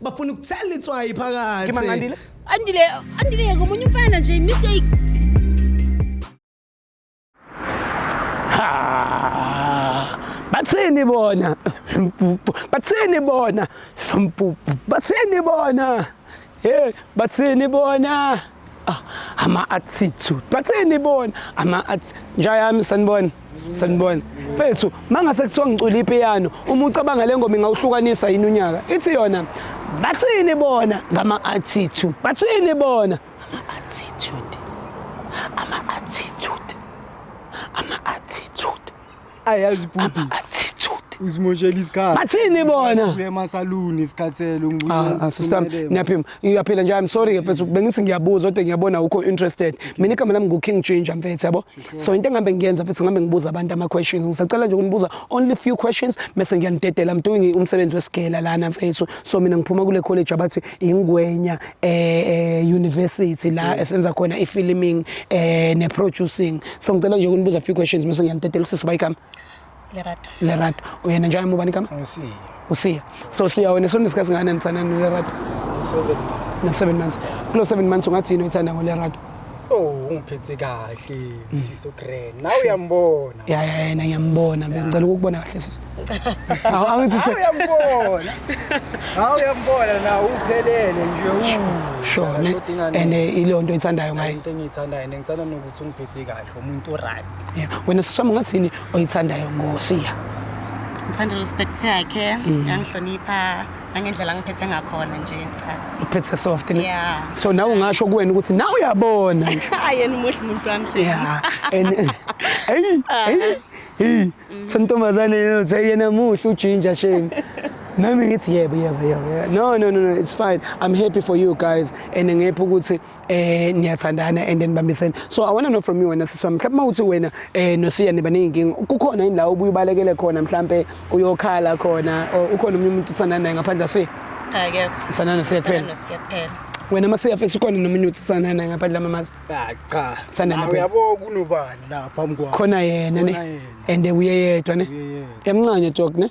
bafuna ukuthela itswayi Ke phakathi mangandile. Andile, andile ngomunye umfana nje mistake. Ah, Bathini bona? Mpupu. Bathini bona? Mpupu. Bathini bona? Hey, bathini bona? Ah, ama attitude. Bathini bona? Ama at njayami sanibona. sanibona mfethu mangase kuthiwa ngicula ipiyano uma ucabanga le ngoma ingawuhlukanisa yini unyaka ithi yona bathini bona ngama-attitude bathini bona ama-attitude ama-attitude ama-attitude ayazi ama-attitude uzimoshela isikhathi bathini bona uye emasaluni isikhathele ah, ah, sister ngiyaphima ngiyaphila nje i'm sorry mfethu bengithi ngiyabuza kodwa ngiyabona ukho interested mina igama lami ngu-king ginger mfethu yabo so into engihambe ngiyenza futhi ngihambe ngibuza abantu ama-questions ngisacela nje ukunibuza only few questions mese ngiyanidedela i'm doing umsebenzi wesigela lana mfethu so mina ngiphuma kule college abathi ingwenya eh, eh university la mm. esenza khona i-filming eh ne-producing so ngicela nje ukunibuza few questions mese ngiyanidedela usisi bayikami Lerato. Lerato. Uyena njalo muba nikama? Usiya. Usiya. So siya wena sonke isikhathi ngane nitsana no Lerato. 7 months. Na 7 months. Kulo 7 months ungathi yini uthanda ngo Lerato? Oh, ungiphethe kahle, mm. siso grand. Nawe uyambona. Ya ya yena ngiyambona, ngicela ukukubona kahle sisi. Awu angithi se. Uyambona. Hawu uyambona na uphelele nje u. Sure. And eh, ilonto ithandayo ngaye. Into engiyithandayo, ngithanda nokuthi ungiphethe kahle, umuntu right. Yeah. Wena sisoma ngathini oyithandayo ngosiya? Ngithanda respect yakhe, mm. yangihlonipha nangendlela ngiphethe ngakhona nje cha. Uphethe soft ne? Yeah. So nawe ungasho kuwena ukuthi nawe uyabona. Ayena umuhle umuntu wami shame. Yeah. And hey, ah. hey. Hey, sentombazane yena uthe yena muhle ujinja shame. Nami ngithi yebo yebo yebo. No no no no, it's fine. I'm happy for you guys and ngepha ukuthi eh niyathandana and nibambisene so i want to know from you wena siswa mhlawumbe mawuthi wena eh nosiya niba neyinkinga kukhona yini la ubuye ubalekele khona mhlawumbe uyokhala khona ukhona umunye umuntu uthandana naye ngaphandle ase cha akekho uthandana nosiya kuphela nosiya kuphela wena uma siyafisa ukhona nomunye uthi sanana ngaphandle lamamazi ah, cha sanana uyabo kunobani la phambi kwakho khona yena ne and uyeyedwa ne yamncane jok ne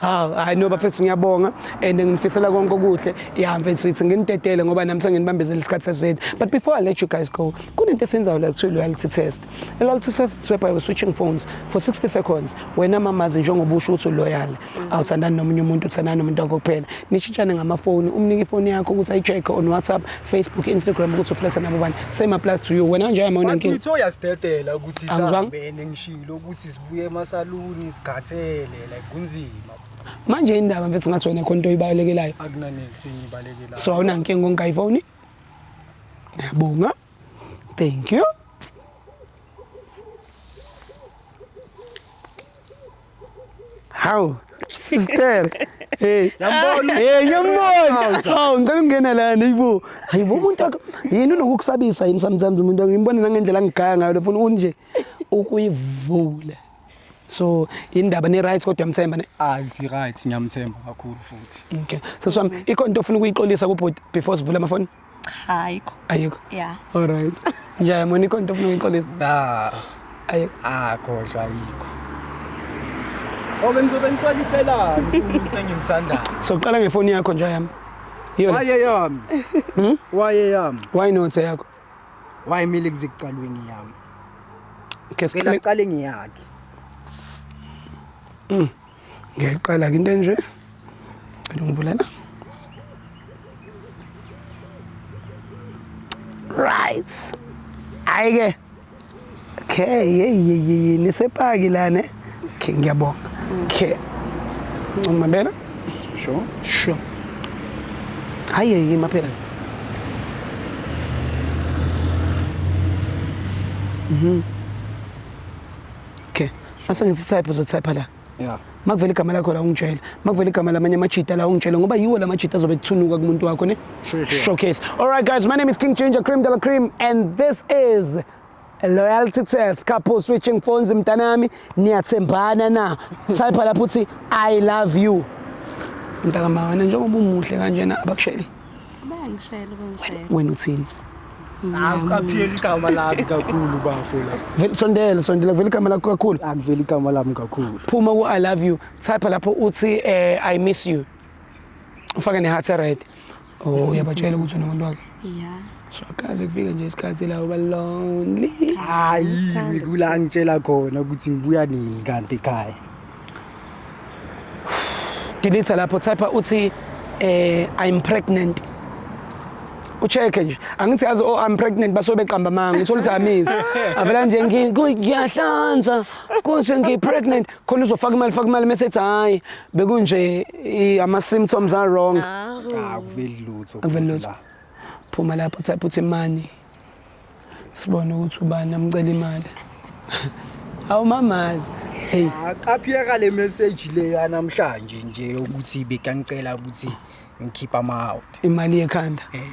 hawu hayi no bafethu ngiyabonga and nginifisela konke okuhle ya mfethu ithi nginidedele ngoba nami senginibambezela isikhathi seside but before i let you guys go kunento esenzayo la kuthiwa loyalty test a loyalty test is whereby we're switching phones for 60 seconds wena mamazi njengoba usho ukuthi uloyal awuthandani nomunye umuntu uthandani nomuntu wakho kuphela nishintshane ngamafoni umnike ifoni yakho ukuthi ayi-check on whatsapp facebook instagram ukuthi ufletha nabo bani same applies to you wena nje ayamona nkinga Utho yasidedela ukuthi Angizwanga. sihambene ngishilo ukuthi Buye emasaluni isikhathele like kunzima. Manje indaba mfethu ngathi wena khona into oyibalekelayo. Akunaniki sengibalekelayo. So awunankinga ngonka ifoni? Ngiyabonga. Thank you. How? Sister. Hey. Yambona. Hey, yambona. Hawu, ngicela ungena la nibo. Hayibo umuntu yini unokukusabisa yimi sometimes umuntu ngimbona nangendlela ngigaya ngayo lefuna unje. ukuyivula so indaba ni right kodwa mthemba ne ah si right ngiyamthemba kakhulu futhi okay so swam ikho into ofuna ukuyixolisa ku before sivule ama phone cha ayikho ayikho yeah all right njaya mona ikho into ofuna ukuyixolisa nah ayikho ah kodwa ayikho Obe ngizobe ngixoliselani umuntu engimthandayo. So qala ngefoni yakho nje yami. Yona. Waye yami. Hmm? Waye yami. Why not yakho? wayimile kuzikuqalweni yami ngicela kuqale ngiyakhe mm. ngiqala ke into enje cela ungivulela right ayike Okay, hey, hey, hey, nisepaki la ne. Okay, ngiyabonga. Okay. Ngimabela? Sure. Sure. Hayi, hey, maphela. Mhm. Okay. Asa ngithi type uzotype la. yeah. makuvela igama lakho la ungitshele makuvela igama lamanye amajita la ungitshele ngoba yiwo la majita azobe kuthunuka kumuntu wakho ne sure, sure. showcase all right guys my name is king ginger cream dela cream and this is loyalty test couple switching phones mntanami niyathembana na type lapho uthi i love you mntakamawana njengoba umuhle kanjena abakusheli Bayangishayela bangishayela. Wena uthini? Akupheli igama lami kakhulu bafo la. Vele sondela sondela vele igama lakho kakhulu. Akuveli igama lami kakhulu. Phuma ku I love you. Type lapho uthi eh I miss you. Ufake ne heart red. Oh uyabatshela ukuthi unomuntu wakhe. Yeah. Swakaze kufike nje isikhathi la uba lonely. Hayi, ngikula angitshela khona ukuthi ngibuya nini kanti ekhaya. Delete lapho type uthi eh I'm pregnant. Ucheck nje. Angithi yazi oh I'm pregnant basuke beqamba manga. Uthola ukuthi amisi. Avela nje ngi- ngi- ngiyahlanza. Konje ngi pregnant. Khona uzofaka imali faka imali mase ethi hayi bekunje i- ama symptoms are wrong. Akuveli lutho. Akuveli lutho. la. phuma lapho type uthi money sibone ukuthi ubani amcela imali awumamazi hey aqaphiyeka le message le yanamhlanje nje ukuthi bekangicela ukuthi ngikhipha ama out imali yekhanda hey eh.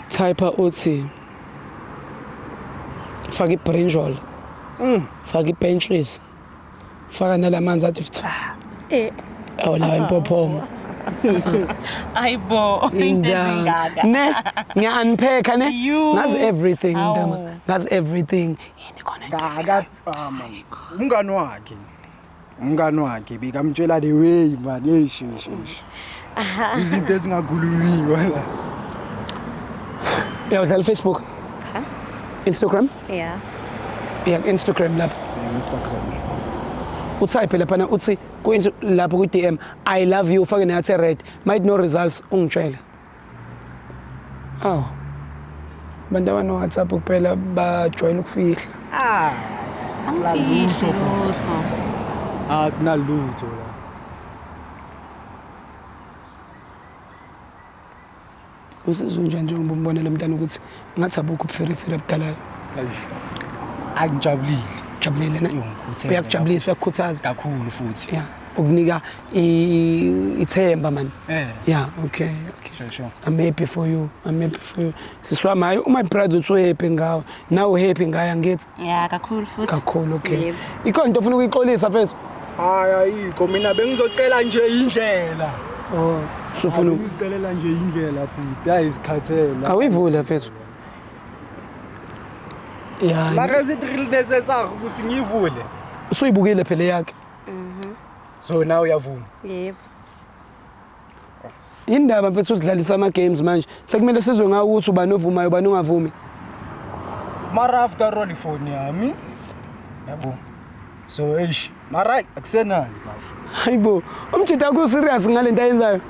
type uthi faka ibrinjol mm faka ibenches faka nalamanzi athi fitha eh awu la impophoma ayibo into ezingaka ne ngiyaniphetha ne ngazi everything ndama ngazi everything yini khona ngaka umngani wakhe umngani wakhe bekamtshela the way manje eyishishi izinto ezingakhulumiwe la uyawudlala ifacebook instagram Yeah. iya ku-instagram lapho Instagram. utype laphana uthi kuyinto lapho kwi-dm i love you ufake neyathi red might no results ungitshele awu abantu abanowhatsapp kuphela bajwayele ukufihla Ah, Angifihli lutho. akunalutho la. Usizwe njani njengoba umbonela mntana ukuthi ngathi abukho ubuferefere abudalayo? Ayi ngijabulile. Jabulile na? Uyangikhuthela. Uyakujabulisa, uyakukhuthaza. Kakhulu futhi. Yeah. Ukunika ithemba man. Eh. Yeah, okay. Okay. Sure, sure. I'm happy for you. I'm happy for you. Siswa maye uma brother utso happy ngawe. Now happy ngaye angithi. ya kakhulu futhi kakhulu okay Yebo. ikhona into ofuna ukuyixolisa phezu hayi ayikho mina bengizocela nje indlela oh sofuna uku- bengizicelela nje indlela bhuti hayi zikhathela awuyivule phezu ya mara is it really necessary ukuthi ngiyivule usuyibukile phela yakhe so nawe uyavuma yebo Indaba mfethu usidlalisa ama games manje. Sekumele sizwe ngawo ukuthi ubani ovumayo ubani ongavumi. Mara after all ifoni yami. Yabo. So eish, mara akusenani bafo. Hayibo, umjita ku serious ngalento ayenzayo.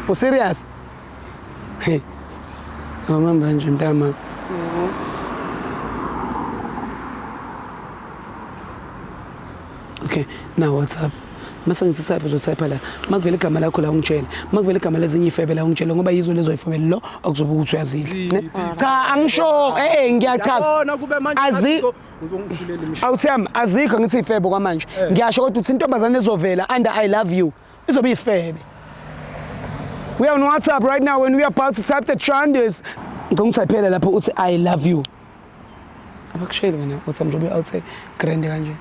U serious? Hey. Awumamba nje mntama. Mhm. Okay, na WhatsApp. Mase ngithatha phela utype la. Makuvela igama lakho la ungitshele. Makuvela igama lezinye ifebe la ungitshele ngoba yizo lezo ifebe lo okuzobe ukuthi uyazidla. ne? Cha angisho eh eh, ngiyachaza. Yabona kube manje Azi- ngathi uzongiphulela imishado. Awuthembi azikho ngithi ifebe kwamanje. Ngiyasho kodwa uthi intombazane ezovela under I love you. izobe isifebe we are on whatsapp right now when we are about to type the trandes ngicela ungithaphele lapho uthi i love you abakushayeli wena uthi mjobe awuthe grand kanje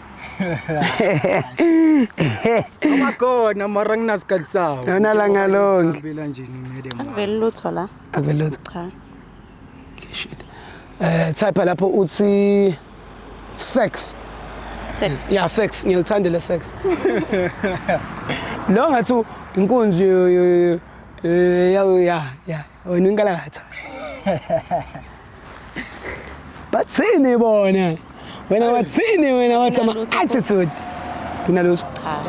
amakhona mara nginasikhathi sawo Yona langa lonke. Ngihambela nje ni madam wami. Vele lutho la. akuvele lutho Cha. Shit. Eh type lapho uthi sex. Sex. Yeah sex ngilithandele sex. Lo ngathi inkunzi eh ya ya ya wena inkalatha. Bathini bona? Wena wathini wena wathi ama attitude. Kunalutho. Cha.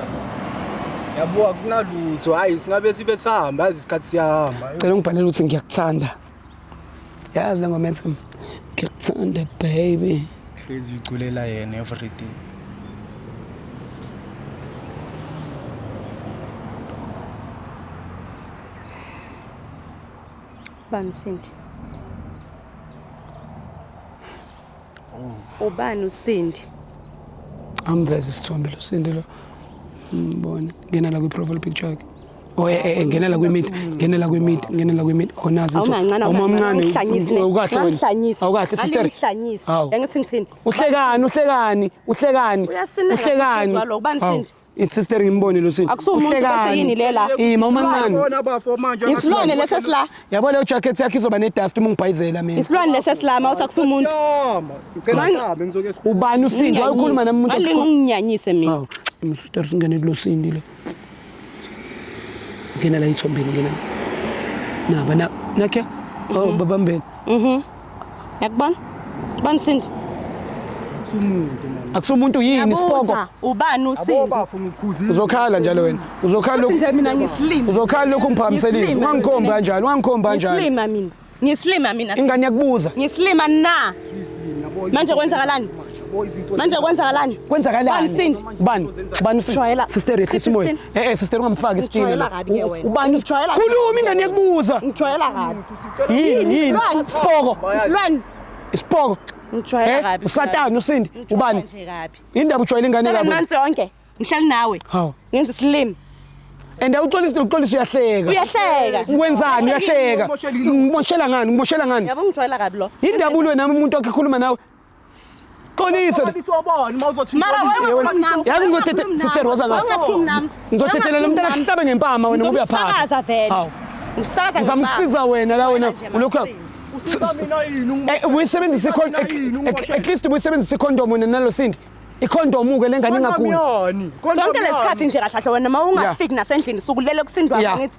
Yabo akunalutho. Hayi singabe sibe sihamba isikhathi siyahamba. Cela ungibhalele ukuthi ngiyakuthanda. yazi le ngoma ethi ngiyakuthanda baby hlezi uculela yena everyday bamsindi Oh. Ubani uSindi? Amveze isithombe lo Sindi lo. Mbona ngena la kwi profile picture yakhe. Oh eh, eh, eh ngena la kwi mid, ngena la kwi mid, ngena la kwi mid. Onazi oh, nje. Omamncane oh, ukahle wena. Awukahle oh, sister. Angihlanyisi. Engithi ngithini? Uhlekani, uhlekani, uhlekani. Uhlekani. Ubani Sindi? It's sister ngimbone lo sisi. Akusuwe umuntu bese yini le la? Ima umancane. Bona bafo manje. Isilwane lesa sila. Yabo le jacket yakhe izoba ne dust uma ngibhayizela mina. Isilwane lesa sila mawuthi akusuwe umuntu. Ngicela sabe ngizoke sikhuluma. Ubani usindi wakhuluma nami umuntu. Ngale nginginyanyise mina. Hawu, imfuta singene kulo sindi le. Ngena la ithombeni ngena. Naba na nakhe. Oh babambeni. Mhm. Yakubona? Bani Sindi? akusumuntu yini isipoko ubani usinto uzokhala njalo wena uzokhala lokhu nje mina ngisilima uzokhala lokhu ngiphakamiselile ungangikhombi kanjalo ungangikhombi kanjalo ngisilima mina ngisilima mina ingane yakubuza ngisilima na manje kwenzakalani manje kwenzakalani kwenzakalani sindi ubani ubani usijwayela sister yehlisa umoya eh eh sister ungamfaki isitini ubani usijwayela khuluma ingane yakubuza ngijwayela kabi yini yini isipoko isilwane isipoko ngijwayela eh, kabi usatana usindi ubani indaba ujwayela ingane kabi manje yonke ngihlali nawe ngenza isilimi and awuxolisi nokuxolisa uyahleka uyahleka wenzani uyahleka ngimoshela ngani ngimoshela ngani yabo ngijwayela kabi lo indaba ulwe nami umuntu wakhe khuluma nawe Xolisa. Yazi ngizothethe sister Rosa la. Ngizothethe lo mntana sihlabe ngempama wena ngoba uyaphatha. Umsakaza vele. Hawu. Umsakaza. Ngizama ukusiza wena la wena ulokhu usiza mina yini? Eh, ubuyisebenzisa ikhondom at least ubuyisebenzisa ikhondom wena nalo sindi. ikhondomu ke lengane ingakuni sonke lesikhathi nje kahlahle wena uma ungafiki nasendlini sukulele kusindwa ngithi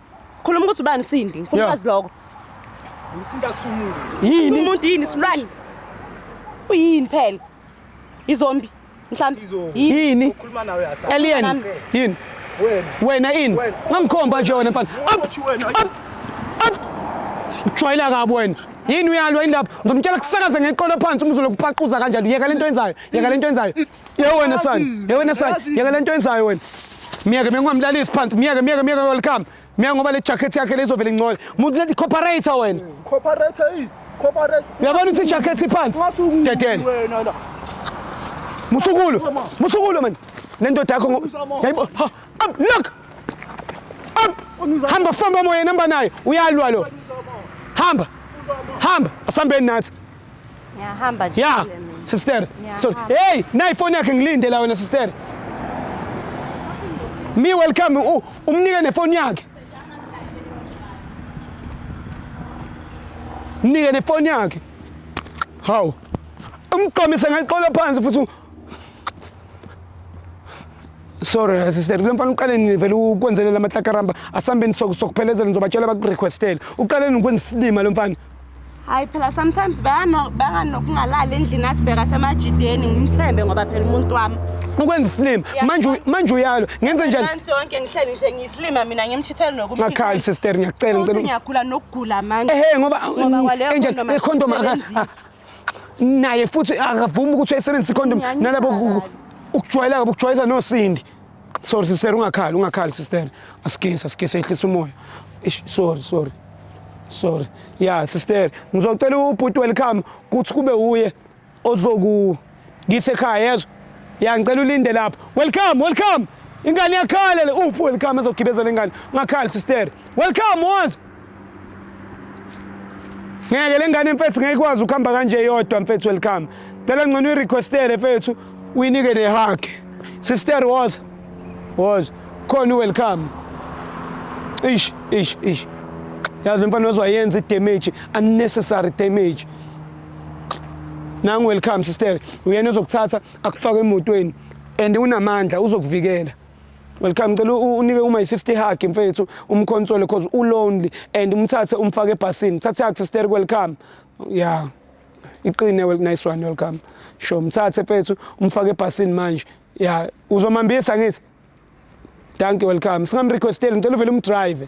Khuluma ukuthi ubani Sindi, ngifuna ukwazi lokho. Usinda kusumuka. Yini? Umuntu yini isilwane? Uyini phela? Izombi. Mhlambi. Yini? Ukhuluma nawe yasa. Alien. Yini? Wena. Wena ini? Ngangikhomba nje wena mfana. Uthi wena. Jwayela kabi wena. Yini uyalwa indaba? Ngizomtshela kusakaze ngeqolo phansi umzulu kupaquza kanjani. Yeka lento yenzayo. Yeka lento yenzayo. Ye wena sani, ye wena sani, yeka lento yenzayo wena. Miyeke bengingamlalisi phansi, miyeke miyeke miyeke welcome. Miyeke ngoba le jacket yakhe lezovela ingcole. Muntu lethi cooperator wena. Corporate hey, corporate. Uyabona ukuthi ijacket iphansi. Ngasuku Dedele. wena la. Musukulu. Musukulu man. Lendoda yakho ngo. Yayibo. ha, Up look. Up. Hamba famba moya namba naye. Uyalwa lo. Hamba. Hamba. Asambeni nathi. Ngiyahamba nje. Yeah. Sister. Sorry. Hey, nayi phone yakhe ngilinde la wena sister. Me welcome u umnike nefoni yakhe. Mnike nefoni yakhe. Hawu. Umqomise ngaqola phansi futhi sorry sister kule mfana uqale nini vele ukwenzelela amahlakaramba asambeni sokuphelezela ngizobatshela bakurequestele uqale nini ukwenza isilima lo mfana hayi phela sometimes bangani nokungalali endlini athi bekasemajideni ngimthembe ngoba phela umuntu wami ukwenza isilima manje manje uyalo ngenze njani manje yonke ngihleli nje ngiyisilima mina ngimchithele nokumchithela ngakhali sister ngiyacela ngicela ngiyagula nokugula manje ehe ngoba enjani econdom aka ah, naye futhi akavumi ukuthi ayisebenzise icondom nalabo ukujwayela kabi ukujwayeza nosindi Sorry sister ungakhali ungakhali sister. Asigisa asigisa ehlisa umoya. Ish sorry sorry. Sorry. Yeah sister ngizocela ubhuti welcome kuthi kube uye ozoku ngisekhaya yezwa. Yeah ngicela ulinde lapha. Welcome welcome. Ingane yakhala le uphi welcome ezogibezela ingane. Ungakhali sister. Welcome wazi. ngeke le ngane mfethu ngeke ikwazi ukuhamba kanje yodwa mfethu welcome cela ngcono uyirequestele mfethu uyinike nehug sister was was khona welcome ish ish ish yazi mfana wazoyenza idamage unnecessary damage nangu welcome sister uyena uzokuthatha akufake emotweni and unamandla uzokuvikela Welcome ngicela unike uma i-sister hug mfethu umkhonsole because u lonely and umthathe umfake ebhasini thathe hug sister welcome yeah iqine well nice one welcome sho mthathe mfethu umfake ebhasini manje yeah uzomambisa ngithi thank you welcome singamrequesteli ngicela uvele umdrive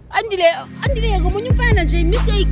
Andile, andile yeka omunye umfana nje mistake.